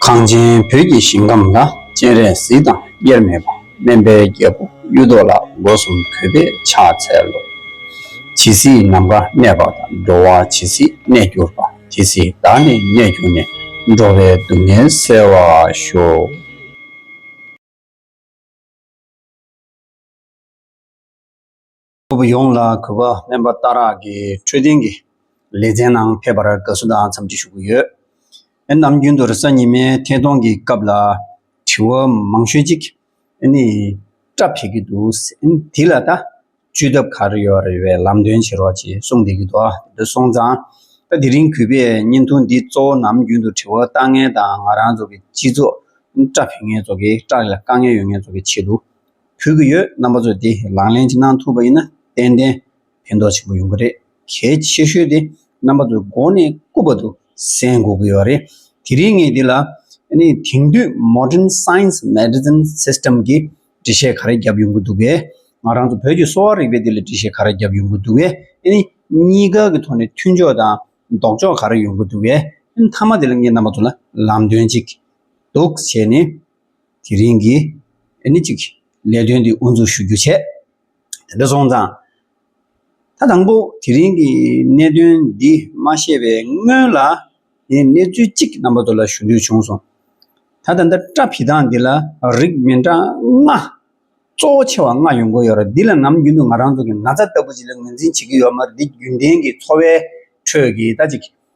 གངས་ཅན་བོད་ཀྱི་ཞིང་ཁམས་ལ་སྤྱན་རས་གཟིགས་དང་དབྱེར་མེད་པ་སྨན་པའི་རྒྱལ་པོ་གཡུ་ཐོག་ལ་སྒོ་གསུམ་གུས་པས་ཕྱག་འཚལ་ལོ། ཇི་སྲིད་ནམ་མཁའ་གནས་པ་དང་འགྲོ་བ་ཇི་སྲིད་གནས་གྱུར་པ་དེ་སྲིད་བདག་ནི་གནས་གྱུར་ནས་འགྲོ་བའི་སྡུག་བསྔལ་བསལ་བར་ཤོག། ཕུ་བོ་ཡོངས་ལ་གུས་པ་དམན་པ་རྟ་རག་གི་འཕྲོད་བསྟེན་གྱི་ལེ་ཚན་ནང་ཕེབས་པར་དགའ་བསུ་དང་འཚམས་འདྲི་ཞུ་གི་ཡོད། ཨེ་ནམ་རྒྱུན་དུ་རེ་ས་ཉི་མའི་ཐད་གཏོང་གི་སྐབས་ལ་དྲི་བ་མང་ཤོས་ཅིག་ཨེ་ནི་སྐྲ་འཕེལ་གི་འདུག་ཨེ་ནི་དེ་ལ་ད་བཅོས་ཐབས་ག་རེ་ཡོད་རེད་བས་ལམ་སྟོན་བྱེད་རོགས་ཅེས་གསུངས་བསྡད་ཀྱི་འདུག་དེ་འདྲ་སོང་ཙང་ད་དེ་རིང་གུས་པས་བརྙན་ཐུང་འདི་གཙོ་བོ་ནམ་རྒྱུན་དུ་དྲི་བ་ལྟ་ངན་དང་ང་རང་ཚོ་གི་སྤྱི་ཚོགས་ཨེ་ནི་སྐྲ་འཕེལ་ངན་ཚོ་གི་སྐྲ་ལ་དཀའ་ངལ་ཡོད་ངན་ཚོ་གི་ཆེད་དུ། ཕུལ་གྱི་ཡོད་རྣམ་པ་ཚོས་དེ་ལག་ལེན་གྱི་གནང་ཐུབ་པ་ཡིན་ན་ཏན་ཏན་ཕན་ཐོགས་ཆེན་པོ་ཡོང་གི་རེད་གལ་ཆེ་ཤོས་དེ་རྣམ་པ་ཚོས་མགོ་ནས་སྐུ་བར་དུ་གསན་འགོ་དགོས་པ་རེད་དེ་རིང་ངས་འདི་ལ་ནི་དེང་དུས Modern Science Medicine System གི་འགྲེལ་བཤད་ག་རེ་བརྒྱབ་ཡོང་གི་འདུག་པས་ང་རང་ཚོ་བོད་ཀྱི་གསོ་བ་རིག་པའི་འདི་ལ་འགྲེལ་བཤད་ག་རེ་བརྒྱབ་ཡོང་གི་འདུག་བས་ནི་གཉིས་ཀ་གི་ཐོག་ནས་མཐུན་ཕྱོགས་དང་ལྡོག་ཕྱོགས་ག་རེ་ཡོང་གི་འདུག་བས་ནི་མཐའ་མ་དེ་ལ་ངས་རྣམ་པ་ཚོ་ལ་ལམ་སྟོན་ཅིག་འདུག་བྱས་ནས་དེ་རིང་གི་ནི་གཅིག་ལས་དོན་འདི་དབུ་འཛུགས་ཞུ་རྒྱུ་བྱས། དེ་འདྲ་སོང་ཙང། ད་དང་པོ་དེ་རིང་གི་གནད་དོན་འདི་མ་ཤེས་པའི་སྔོན་ལ་ངས་གནས་ཚུལ་གཅིག་རྣམ་པ་དོ་ལ་ཞུ་འདོད་བྱུང་སོང། ད་ད་འདི་སྐྲ་ཕི་སྟངས་འདི་ལ་རིགས་མི་འདྲ་ལྔ། གཙོ་བོ་ཆེ་བ་ལྔ་ཡོང་གི་ཡོད་རེད་འདི་ལ་ནམ་རྒྱུན་དུ་ང་རང་ཚོ་གི་ན་ཚ་ལྟ་བུ་ཅིག་ལ་ངོས་འཛིན་བྱེད་ཀྱི་ཡོད་མ་རེད་འདི་རྒྱུན་ལྡན་གྱི་འཚོ་བའི་ཁྲོད་ཀྱི་ད་ཅིག་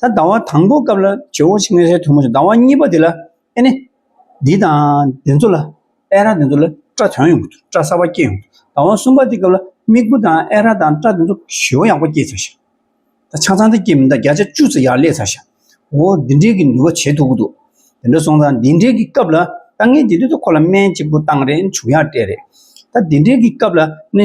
ད་ལྟ་བ་དང་པོ་སྐབས་ལ་ཇོ་བོ་ཆེན་ངྷའི་ཐུགས་མོ་ཞེས་ཟླ་བ་གཉིས་པ་དེ་ལ་ཨེ་ནི། འདི་དང་འདི་ཚོ་ལ་ཨེ་རག་འདི་ཚོ་ལ་སྐྲ་དོན་ཡོང་གི་འདུག་སྐྲ་གསར་བ་སྐྱེས་ཡོང་གི་འདུག་ཟླ་བ་གསུམ་པ་དེ་སྐབས་ལ་མིག་བུ་དང་ཨེ་རག་དང་སྐྲ་དེ་ཚོ་ཞི་བ་ཡག་པོ་སྐྱེས་ཚར་ཞིང། ད་ཆང་ཚང་དེ་སྐྱེས་མི་འདག་བརྒྱ་ཆ་བཅུ་ཚོ་ཡར་སླེབས་ཚར་ཞིང། འོ་འདི་འདྲའི་གི་འདུལ་བ་བྱེད་ཐུབ་ཀི་འདུག་དེ་འདྲ་སོང་ཙང་འདི་འདྲའི་གི་སྐབས་ལ་ད་ངས་འདི་དུས་ཚོད་ཁོ་ལ་སྨན་གཅིག་པུ་བཏང་རེ་བྱུང་ཡག་སྤྲད་རེད། ད་འདི་འདྲའི་གི་སྐབས་ལ་ནི།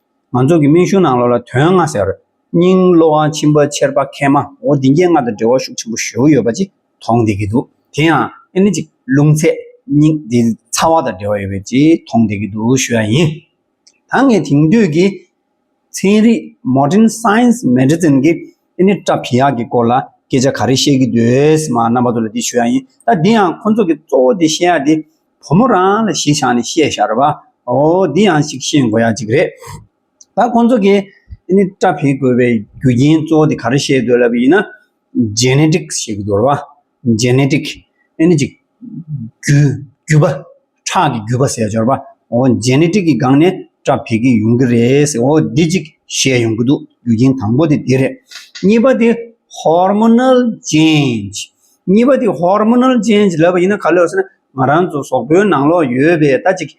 ང་ཚོ་གི་སྨན་གཞུང་ནང་ལོགས་ལ་དོན་ལྔ་ཟེར་བར་སྙིང་བློ་དབང་ཆེན་པོ་ཆེར་པ་མཁལ་མ་འོ་དེ་འགྱེལ་ལྔ་དང་འབྲེལ་བ་ཤུགས་ཆེན་པོ་བཞུགས་ཡོད་པ་ཅིག་མཐོང་བསྡད་ཀྱི་འདུག་དེ་ཡང་ཨེ་ནི་ཅིག་རླུང་ཚད་སྙིང་དེ་ཚ་བ་དང་འབྲེལ་བ་ཡོད་པའི་ཅིག་མཐོང་བསྡད་ཀྱི་འདུག་ཞུས་པ་ཡིན། ད་ངས་དེང་དུས་ཀྱི་ཚན་རིག Modern Science Medicine གི་ཨེ་ནི་ཀྲ་བྷི་ཡག་གི་སྐོར་ལ་སྐད་ཆ་ག་རེ་བཤད་ཀྱི་འདུག་ཨེ་ཟེར་མ་རྣམ་པ་ཚོ་ལ་དེ་ཞུས་པ་ཡིན། ད་དེ་ཡང་ཁོ་ཚོ་གི་གཙོ་བོ་དེ་བཤད་ཡག་དེ་བུ་མོ་རང་ལ་གཞི་བཞག་ནས་བཤད་ཤར་བ། འོ་འདི་ཡང་ཞིག་ཤེས་དགོས་ཡ་ཅིག་རེད། ད་ཁོང་ཚོ་གིས་ནི་སྐྲ་འཕེན་དགོས་པའི་རྒྱུ་རྐྱེན་གཙོ་བོ་དེ་ག་རེ་ཤེས་འདོད་ལབ་ཡིན་ན། Genetics ཞེས་འདོར་བ། Genetic། ནི་ཅིག། རྒྱུ། རྒྱུ་བ། ཁྲག་གི་རྒྱུ་བ་ཟེར་སྦྱོར་བ། འོ Genetic གི་སྒང་ནས་སྐྲ་འཕེལ་གྱི་ཡོང་གི་རེད། འོ་འདི་ཅིག་ཤེས་ཡོང་གི་འདུག་རྒྱུ་རྐྱེན་དང་པོ་དེ་དེ་རེད། གཉིས་པ་དེ Hormonal Change། གཉིས་པ་དེ Hormonal Change ལབ་པ་ཡིན་ན་ག་ལོས་ཟེར་ན་ང་རང་ཚོ་ཟོག་པོའི་ནང་ལོགས་ཡོད་པའི་ད་ཅིག་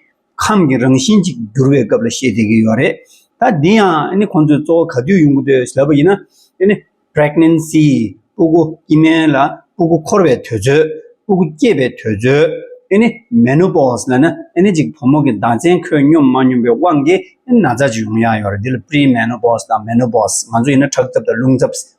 ཁམས་ཀྱི་རང་བཞིན་ཅིག་འགྱུར་བའི་སྐབས་ལ་བཤད་བསྡད་ཀྱི་ཡོད་རེད། ད་འདི་ཡང་ཨ་ནི་ཁོང་ཚོས་གཙོ་བོ་ག་དུས་ཡོང་གི་འདོད་ལབ་པ་ཡིན་ན་ཨ་ནི Pregnancy སྤུ་གུ་སྐྱི་སྨན་ལ་སྤུ་གུ་འཁོར་བའི་དུས་ཚོད་སྤུ་གུ་སྐྱེས་པའི་དུས་ཚོད་ཨ་ནི Menopause ལ་ན་ཨ་ནི་ཅིག་བུ་མོ་གི་མདངས་ཅན་ཁོད་སྙོམས་མ་སྙོམས་པའི་དབང་གིས་ཨ་ནི་ན་ཚ་ཅིག་ཡོང་ཡག་ཡོད་རེད་འདི་ལ Pre Menopause དང Menopause ང་ཚོ་ཡིན་ན་ཁྲག་འཚབ་དང་རླུང་འཚབ།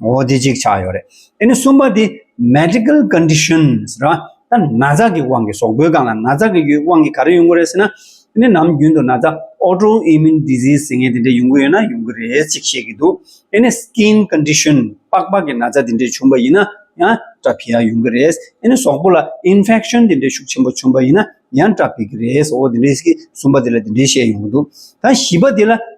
ངོ་བོ་དེ་གཅིག་ཆགས་ཡོད་རེད། དེ་ནི་གསུམ་པ་དེ Medical Conditions རེད་བ། ད་ན་ཚ་གི་དབང་གིས་ཟོག་པོའི་སྒང་ལ་ན་ཚ་གི་ཡོད་དབང་གིས་ག་རེ་ཡོང་གི་རེད་ཟེར་ན། དེ་ནི་ནམ་རྒྱུན་དུ་ན་ཚ Autoimmune Disease ཟེར་ངེས་དེ་འདྲས་ཡོང་གི་ཡོད་ན་ཡོང་གི་རེད་ཅིག་བཤད་ཀྱི་འདུག་དེ་ནི Skin Condition པགས་པ་གི་ན་ཚ་དེ་འདྲས་བྱུང་བ་ཡིན་ན་ཡང་སྐྲ་ཕིག་ཡ་ཡོང་གི་རེད། དེ་ནི་ཟོག་པོ་ལ Infection དེ་འདྲས་ཤུགས་ཆེན་པོ་བྱུང་བ་ཡིན་ན་ཡང་སྐྲ་ཕིག་གི་རེད་ཟོག་པོ་དེ་འདྲས་ཀྱིས་གསུམ་པ་དེ་ལ་དེ་འདྲས་བཤད་ཡོང་གི་འདུག་ད་བཞི་པ་དེ་ལ་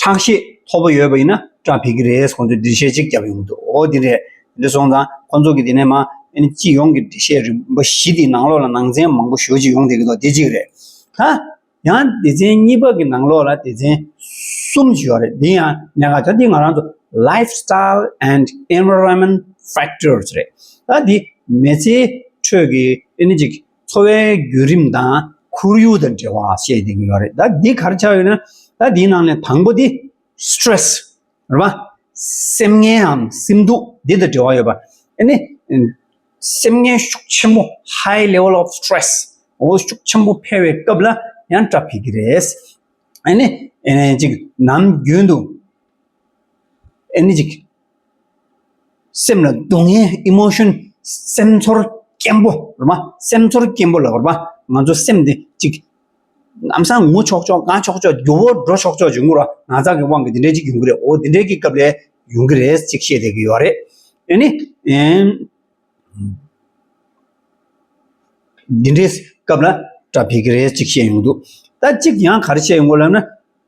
ཁྲག་ཤེད་མཐོ་པོ་ཡོད་པ་ཡིན་ན་སྐྲ་ཕིག་གི་རེད་ཁོང་ཚོས་འགྲེལ་བཤད་ཅིག་བརྒྱབ་ཡོང་འདུག་འོ་དེ་རེད། དེ་སོང་ཙང་ཁོ་ཚོ་གིས་དེ་ནས་མ་ཨེ་ཅི་ཡོང་གི་འགྲེལ་བཤད་རིམ་པ་བཞི་དེའི་ནང་ལོགས་ལ་ནང་ཚན་མང་པོ་ཞོ་གཅིག་ཡོང་དེ་གི་དོག་དེ་གཅིག་རེད། ཧ། ཡང་སྡེ་ཚན་གཉིས་པ་གི་ནང་ལོགས་ལ་སྡེ་ཚན་གསུམ་ཅིག་ཡོད་རེད་དེ་ཡང་གནད་འགག་ཆ་དེ་ང་རང་ཚོ Life Style and Environment Factors རེད། ད་དེ་མེ་ཚེའི་ཁྲོད་ཀྱི་ཨེ་ནི་ཅིག། འཚོ་བའི་བརྒྱུད་རིམ་དང་ཁོར་ཡུག་དང་འབྲེལ་བ་བཤད་ཀྱི་ཡོད་རེད་ད་འདི་གར་ཆགས་ཡོད་ན་ད་འདིའི་ནང་ནས་དང་པོ་དེ། Stress། རེད་པ། སེམས་ངལའམ་སེམས་སྡུག་འདི་དང་འབྲེལ་བ་ཡོད་པ། ཨ་ནི། སེམས་ངལ་ཤུགས་ཆེན་པོ High Level of Stress འོ་ཤུགས་ཆེན་པོ་འཕེལ་བའི་སྐབས་ལ་ཡང་སྐྲག་ཕེབས་ཀྱི་རེད། ཨ་ནི། ཨ་ནི་ཅིག་ནམ་རྒྱུན་དུ། ཨ་ནི་ཅིག་སེམས་ལ་སྡུག་བསྔལ Emotion སེམས་ཚོར་སྐྱེན་པོ་རོ་མ་སེམས་ཚོར་སྐྱེན་པོ་ལ་རོ་མ་ང་ཚོ་སེམས་དེ་གཅིག་ནམ་སང་ངུ་ཆོག་ཆོག་དགའ་ཆོག་ཆོག་རྒྱུ་བོར་འགྲོ་ཆོག་ཆོག་ཅིག་ངུ་རོ་ན་ཚ་གི་དབང་གིས་དེ་འདྲའི་གཅིག་ཡོང་གི་རེད་འོ་དེ་འདྲའི་གི་སྐབས་ལས་ཡོང་གི་རེད་ཅིག་བཤད་བསྡད་ཀྱི་ཡོད་རེད་དེ་ནི་འདི་འདྲའི་སྐབས་ལ་སྐྲ་འཕེལ་གི་རེད་ཅིག་བཤད་ཡོང་གི་འདུག་ད་གཅིག་ཡང་ག་རེ་བཤད་ཡོང་གི་ལབ་ན།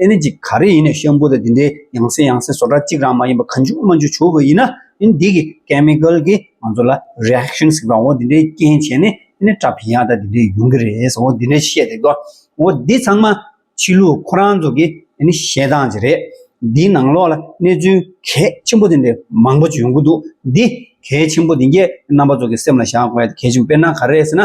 ཨེ་ནི་ཅི་ག་རེ་ཡིན་ནས་ཤམ་བུ་དང་དེ་འདྲའི་ཡང་སྲིད་ཡང་སྲིད་བཟོ་གྲྭ་གཅིག་རང་མ་ཡིན་པ་ག་འཇུག་མ་འཇུག་བྱུག་པ་ཡིན་ན་ཨེ་ནི་འདི་གི chemical གི་ང་ཚོ་ལ reaction ཟེར་བའང་འོ་དེ་འདྲའི་རྐྱེན་བྱས་ནས་ཨེ་ནི་སྐྲ་ཕན་ཡག་དང་དེ་འདྲའི་ཡོང་གི་རེད་ཟེར་བ་འོ་དེ་འདྲ་བཤད་རེད་དོ། འོ་འདི་ཚང་མ་ཕྱི་ལུགས་ཁོ་རང་ཚོ་གི་ཨེ་ནི་བཤད་སྟངས་ཅིག་རེད། འདིའི་ནང་ལོགས་ལ་གནས་ཚུལ་གལ་ཆེན་པོ་དེ་འདྲའི་མང་པོ་ཅིག་ཡོང་གི་འདུག་འདི་གལ་ཆེན་པོ་དེ་གས་རྣམ་པ་ཚོ་གི་སེམས་ལ་བཞག་དགོས་གལ་ཆེན་པོ་དཔེར་ན་ག་རེ་ཟེར་ན།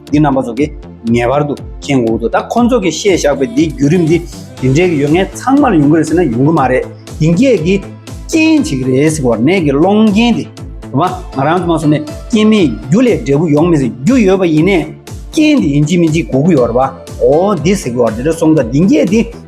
འདི་རྣམ་པ་ཚོ་གི་ངེས་པར་དུ་མཁྱེན་དགོས་འདུག་ད་ཁོ་ཚོ་གི་བཤད་བཞག་པའི་འདི་བརྒྱུད་རིམ་འདི་འདི་འདྲའི་ཡོད་ངེས་ཚང་མར་ཡོང་གི་རེད་ཟེར་ན་ཡོང་གི་མ་རེད་དེང་སྐད་ཀྱི་རྐྱེན་གཅིག་རེད་ཟེར་བ་ནས་ཀྱི་སློང་རྐྱེན་དེ་དེ་མ་ང་རང་དུ་མ་སོང་ནས་རྐྱེན་མེད་རྒྱུ་ལས་འབྲས་བུ་ཡོང་མི་སྲིད་རྒྱུ་ཡོད་པ་ཡིན་ནས་རྐྱེན་དེ་ཡིན་གཅིག་མིན་གཅིག་གོ་གི་ཡོད་རེད་པ་འོ་འདི་ཟེར་གི་བ་འདི་འདྲ་སོང་ད་འདི་སྐད་འདི་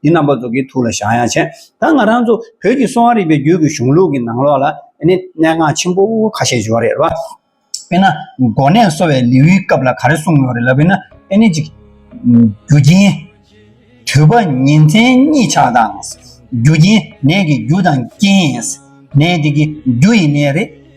འདི་རྣམ་པ་ཚོ་གི་ཐུགས་ལ་བཞག་ཡང་ཆེ། ད་ང་རང་ཚོ་བོད་ཀྱི་གསོ་བ་རིག་པའི་རྒྱུད་ཀྱི་གཞུང་ལུགས་ཀྱི་ནང་ལོགས་ལ་ནི་གནད་འགག་ཆེན་པོ་ཁ་ཤས་བྱུང་བ་རེད་རེད་བ། དཔེར་ན་མགོ་ནད་གསོ་བའི་ལེའུའི་སྐབས་ལ་ག་རེ་གསུངས་ཡོད་རེད་ལ་དཔེར་ན་ཨེ་ནི་གཅིག། རྒྱུ་རྐྱེན། དུས་བབ་ཉིན་མཚན་གཉིད་ཆག་དང། རྒྱུ་རྐྱེན་ནད་ཀྱི་རྒྱུ་དང་རྐྱེན། ནད་དེ་གི་རྒྱུ་ཡི་ནད་རེད།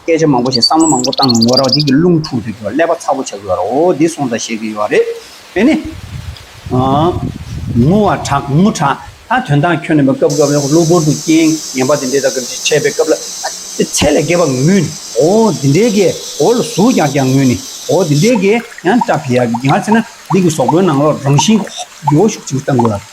སྐད་ཆ་མང་པོ་བཤད་བསམ་བློ་མང་པོ་བཏང་ངོ་རང་རྒྱལ་གྱི་རླུང་འཁྲུག་འདུག་ཀྱོ་ཀླད་པ་ཚ་པོ་ཆགས་ཀྱི་ཡོད་རོ་འདི་སོང་ཙང་བཤད་ཀྱི་ཡོད་རེད་དེ་ནི། ངུ་བ་དྲག་ངུ་དྲག་ད་དོན་དག་ཁྱོད་ནི་མི་སྐབས་སྐབས་ལ་གློ་བུར་དུ་རྐྱེན་ངན་པ་འདི་འདྲས་དག་གི་འཆད་པའི་སྐབས་ལ་ཨ་ཚད་ལས་བརྒལ་བ་ངུ་ནི་འོ་འདི་འདྲས་ཀྱི་འོ་ལ་ཟུག་ཀྱང་ཀྱང་ངུ་ནི་འོ་འདི་འདྲས་ཀྱི་ཡང་སྐྲ་འཕེལ་ཡག་གི་ཡང་ཚེ་ན་འདི་གི་ཟོག་པོའི་ནང་ལོགས་རང་བཞིན་གྱི་འོ་ཞུགས་ཅིག་བཏང་དགོས།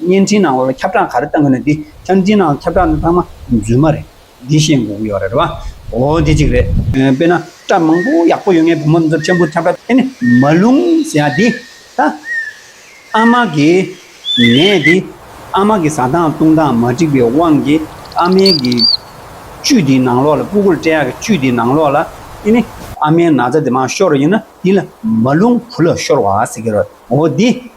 བརྙན་འཕྲིན་ནང་ཁྱབ་བསྒྲགས་ག་རེ་བཏང་གི་ནི་འདི་བརྙན་འཕྲིན་ནང་ཁྱབ་བསྒྲགས་ནི་ཚང་མ་རྫུན་མ་རེད། འདི་ཤེས་འགོ་གི་ཡོད་རེད་བ། འོ་དེ་གཅིག་རེད། དཔེ་ན་སྐྲ་མང་པོ་ཡག་པོ་ཡོད་ངའི་བུ་མོ་འདི་ཚོར་མཆན་བུ་ཁྱབ་བསྒྲགས་དེ་ནི་མ་ལུང་ཟེར་ཡ་འདི་ད་ཨ་མ་གི་ནད་འདི་ཨ་མ་གི་ཟ་སྟངས་བཏུང་སྟངས་མ་འགྲིག་པའི་དབང་གིས་ཨ་མའི་གི་བཅུད་འདི་ནང་ལོགས་ལ་སྤུ་གུར་སྤྲད་ཡ་གི་བཅུད་འདི་ནང་ལོགས་ལ་དེ་ནི་ཨ་མའི་ན་ཚ་དེ་མ་ཤོར་ཡིན་ན་འདི་ལ་མ་ལུང་བུ་ལ་ཤོར་བ་ཟེར་གི་རེད་འོ་འདི།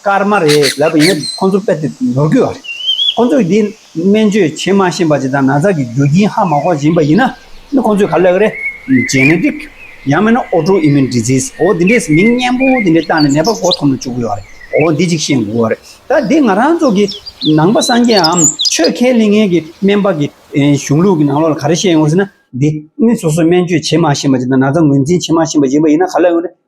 སྐར་མ་རེད་ལབ་པ་ཡིན་ན་ཁོང་ཚོ་དཔེ་དེབ་ནོར་དགོས་པ་རེད། ཁོང་ཚོས་འདི་སྨན་བཅོས་བྱེད་མ་ཤེས་པ་ཅིག་དང་ན་ཚ་གི་རྒྱུ་རྐྱེན་ཧ་མ་གོ་བཞིན་པ་ཡིན་ན་ཁོང་ཚོས་ག་ལེགས་རེད། Genetic། ཡང་མིན་ན Autoimmune Disease འོ་འདི་འདྲའི་མིང་སྙན་པོ་འདི་འདྲ་བཏགས་ནས་ནད་པ་མགོ་འཐོམ་ནས་བཅུག་དགོས་པ་རེད། འོ་འདི་གཅིག་ཤེས་དགོས་པ་རེད། ད་འདི་ང་རང་ཚོ་གི་ནང་པ་སངས་རྒྱས་འམ་ཆོས་མཁས་གླིང་ངན་གི་སྨན་པ་གི་གཞུང་ལུགས་ཀྱི་ནང་ལོགས་ལ་ག་རེ་བཤད་ཡོང་ཟེར་ན་འདི་སོ་སོ་སྨན་བཅོས་བྱེད་མ་ཤེས་པ་ཅིག་དང་ན་ཚ་ངོས་འཛིན་བྱེད་མ་ཤེས་པ་ཅིག་ཡིན་ན་ག་ལེགས་རེད།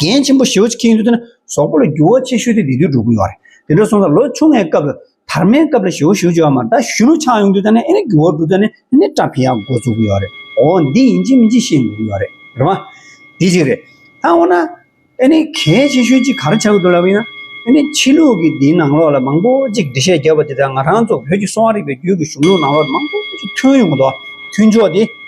རྒན་ཆེན་པོ་ཞི་བ་ཆེ་ཁྱེད་ཡིན་དུས་དེ་ན་ཟོག་པོ་ལ་རྒྱུ་བ་ཆེ་ཤོས་དེ་དེ་དུས་འགྲོ་གི་ཡོད་རེད་དེ་འདྲ་སོང་ཙང་ལོ་ཆུང་ངའི་སྐབས་ལ་དར་མའི་སྐབས་ལ་ཞི་བ་ཞི་བ་བྱེད་བ་མ་ད་ཞུ་རུ་ཆགས་ཡོང་དུས་དེ་ན་ཨེ་ནས་རྒྱུ་བ་འགྲོ་དུས་ནས་ཨེ་ནས་སྐྲ་འཕེན་ཡག་འགོ་ཚུགས་གི་ཡོད་རེད་འོ་འདི་ཡིན་གཅིག་མིན་གཅིག་ཤེས་འགྲོ་གི་ཡོད་རེད་རེད་མ། དེ་གཅིག་རེད་ད་འོ་ན་ཨེ་ནས་གལ་ཆེ་ཤོས་གཅིག་ག་རེ་བྱ་གི་འདུག་ལབ་ཡིན་ན་ཨེ་ནས་ཕྱི་ལུགས་ཀྱི་འདིའི་ནང་ལོགས་ལ་མང་པོ་གཅིག་འབྲི་བཤད་བརྒྱབ་པ་དེ་དག་ང་རང་ཚོ་བོད་ཀྱི་གསོ་བ་རིག་པའི་རྒྱུད་ཀྱི་གཞུང་ལུགས་ནང་ལོགས་མང་པོ་གཅིག་ཐོན་ཡོང་གི་འདུག་མཐུན་ཕྱོགས་དེ།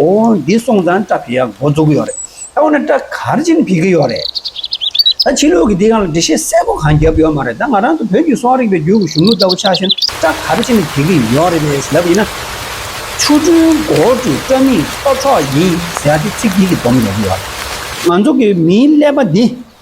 ཨོ་འདི་སོང་ཙང་སྐྲ་བི་ཡ་འགོ་འཛུགས་ཀྱི་ཡོད་རེད། ད་འོ་ན་སྐྲ་གར་ཅིན་བི་གི་ཡོད་རེད། ད་ཕྱི་ལོག་གི་དེ་གང་ལ་འགྲེལ་བཤད་གསལ་པོ་གང་བརྒྱབ་ཡོད་མ་རེད་ད་ང་རང་ཚོ་བོད་ཀྱི་སོག་རིགས་པའི་རྒྱུད་ཀྱི་གཞུང་ལུགས་ལྟ་བུ་ཆགས་ཤིང་སྐྲ་གར་ཅིན་བི་གི་ཡོད་རེད་པས་ལབ་ཡིན་ན། ཆུ་སྦྲུལ་མགོ་སྦྲུལ་སྐྲ་མིག་སོ་ཕྲོག་ཡིན་ཟེར་ཡ་དེ་ཚིག་འདི་གིས་སྡོམ་རྒྱག་གི་ཡོད་རེད། ང་ཚོ་གི་མིའི་ཀླད་པ་འདི།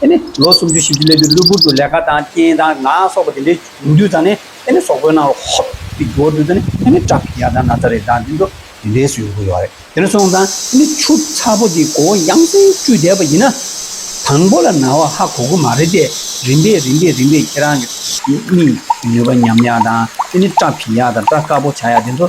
དེ་ནི་ལོ་སུམ་ཅུ་ཞིབ་ཀྱི་སླད་དུ་གློ་བུར་དུ་ལས་ཀ་དང་རྐྱེན་དང་ངག་སོགས་པ་དེ་འདྲའི་འབྱུང་དུས་དང་ནི་དེ་ནི་ཟོག་པོའི་ནང་ལ་ཧོབ་ཀྱི་འགྱུར་དུས་དང་ནི་དེ་ནི་བྲག་གི་ཡར་དང་ན་ཚ་རེ་དང་དེ་ཚོ་དེ་འདྲས་སུ་ཡོང་གི་ཡོད་རེད་དེ་ནས་སོང་ཙང་དེ་ནི་ཆུ་ཚ་པོ་དེ་མགོ་བོ་ཡང་སེང་བཀྲུས་བསྡད་པ་ཡིན་ན་དང་པོ་ལ་ན་བ་ཧ་གོ་གི་མ་རེད་དེ་རིམ་པས་རིམ་པས་རིམ་པས་ཁྱེད་རང་གི། མིག་གི་ནུས་པ་ཉམས་ཡག་དང་དེ་ནི་བྲག་གི་ཡར་དང་བྲག་དཀར་པོ་བྱ་ཡག་དེ་ཚོ།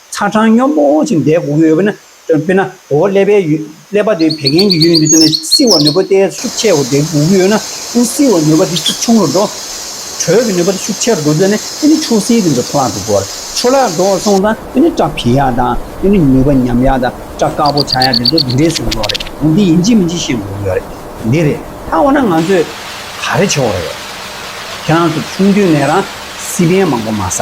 ཚ་གྲང་སྙོམས་པོ་འོང་ཞིང་འདས་གོང་ཡོད་པས་ན་དཔེར་ན་འོག་ཀླད་པའི་ཀླད་པ་དེ་བད་ཀན་གྱི་ཡུལ་ཡིན་པས་ན་བསིལ་བ་ནུས་པ་དེ་ཤུགས་ཆེ་བ་འདས་གོང་ཡོད་ན་ཨི་བསིལ་བ་ནུས་པ་དེ་ཤུགས་ཆུང་རུ་འགྲོ། དྲོད་ཀྱི་ནུས་པ་དེ་ཤུགས་ཆེ་རུ་འགྲོ་ཚེ་ནི་ཨི་ནི་ཆུ་བསིལ་དེ་འདྲ་འཕྲོ་བརླག་ཏུ་འགྲོ་བར་འཕྲོ་བརླག་འགྲོ་བར་སོང་ཙང་ཨི་ནི་སྐྲ་འཕེལ་ཡག་དང་ཨི་ནི་ནུས་པ་ཉམས་ཡག་དང་སྐྲ་དཀར་པོ་ཆགས་ཡག་དེ་ཚོ་དེ་འདྲའི་བཟོ་འགྲོ་བ་རེད་འོན་ཏེ་ཡིན་གཅིག་མིན་གཅིག་ཤེས་དགོས་ཀྱི་ཡོད་རེད། འདི་རེད་ད་འོ་ན་ང་ཚོས་ག་རེ་བྱེད་འོ་རེད། ཁྱེད་རང་ཚོ་ཆུང་དུས་ནས་རང་བསིལ་བད་མང་པོ་མ་ཟ།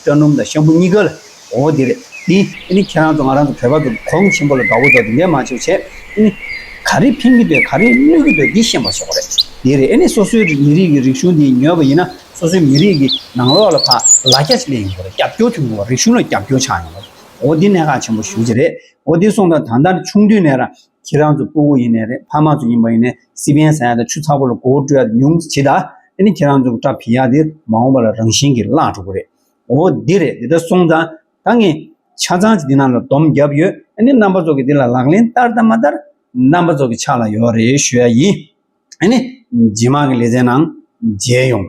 སྤྲ་སྣུམ་དང་ཤམ་བུ་གཉིས་ཀ་ལ་ངོ་བོ་དེ་རེད་དེ། ཨེ་ནི་ཁྱེད་རང་ཚོ་ང་རང་ཚོ་བོད་པ་ཚོ་གོང་ཆེན་པོ་ལ་དགའ་བོ་འདུག་དེ་འདྲས་མ་བྱོས་བྱས་ཨེ་ནི། ག་རེ་ཕན་གྱི་འདོད་ག་རེ་གནོད་ཀྱི་འདོད་དེ་ཤེས་མ་ཆོག་ག་རེ་དེ་རེད་ཨེ་ནི་སོ་སོའི་མི་རིགས་ཀྱི་རིག་གཞུང་དེ་ཉོས་པ་ཡིན་ན་སོ་སོའི་མི་རིགས་ཀྱི་ནང་ལོག་ལ་ཕ་ལ་སྐྱ་ཆིལ་ཡོང་གི་རེད་རྒྱབ་སྐྱོར་ཐུབ་ཡོང་གི་རེད་རིག་གཞུང་ལ་རྒྱབ་སྐྱོར་ཆགས་ཡོང་གི་རེད་འོ་དེ་གནད་འགག་ཆེན་པོ་ཞུ་རྒྱུ་རེད་འོ་དེ་སོང་དོན་ད་ལྟ་ཆུང་དུས་ནས་རང་ཁྱེད་རང་ཚོ་སྤུ་གུ་ཡིན་ནས་རེད་ཕ་མ་ཚོ་ཡིན་པ་ཡིན་ནས་སི་པན་ཟ་ཡ་དང་ཆུ་ཚགས་པོ་ལ་མགོ་བོ་དཀྲུ་ཡ་དེ་ཉུང་ཟད་བྱེད་ད་དེ་ནི་ཁྱེད་རང་ཚོ་གི་སྐྲ་བིས་ཡ་དེ་མ་འོངས་པ་ལ་རང་བཞིན་གི་བརླག་འགྲོ་གི་རེད་འོ་འདི་རེད་འདི་ལྟར་སོང་ཙང་ད་ངས་ཆ་ཚང་ཅིག་འདི་རྣམས་ལ་སྡོམ་བརྒྱབ་ཡོད་ཨ་ནི་རྣམ་པ་ཚོ་གི་འདི་ལ་ལག་ལེན་བསྟར་དང་མ་བསྟར་རྣམ་པ་ཚོ་གི་ཕྱག་ལ་ཡོད་རེད་ཞུ་ཡ་ཡིན་ཨ་ནི་ཇེ་མང་གི་ལེ་ཚན་ནང་མཇལ་ཡོང།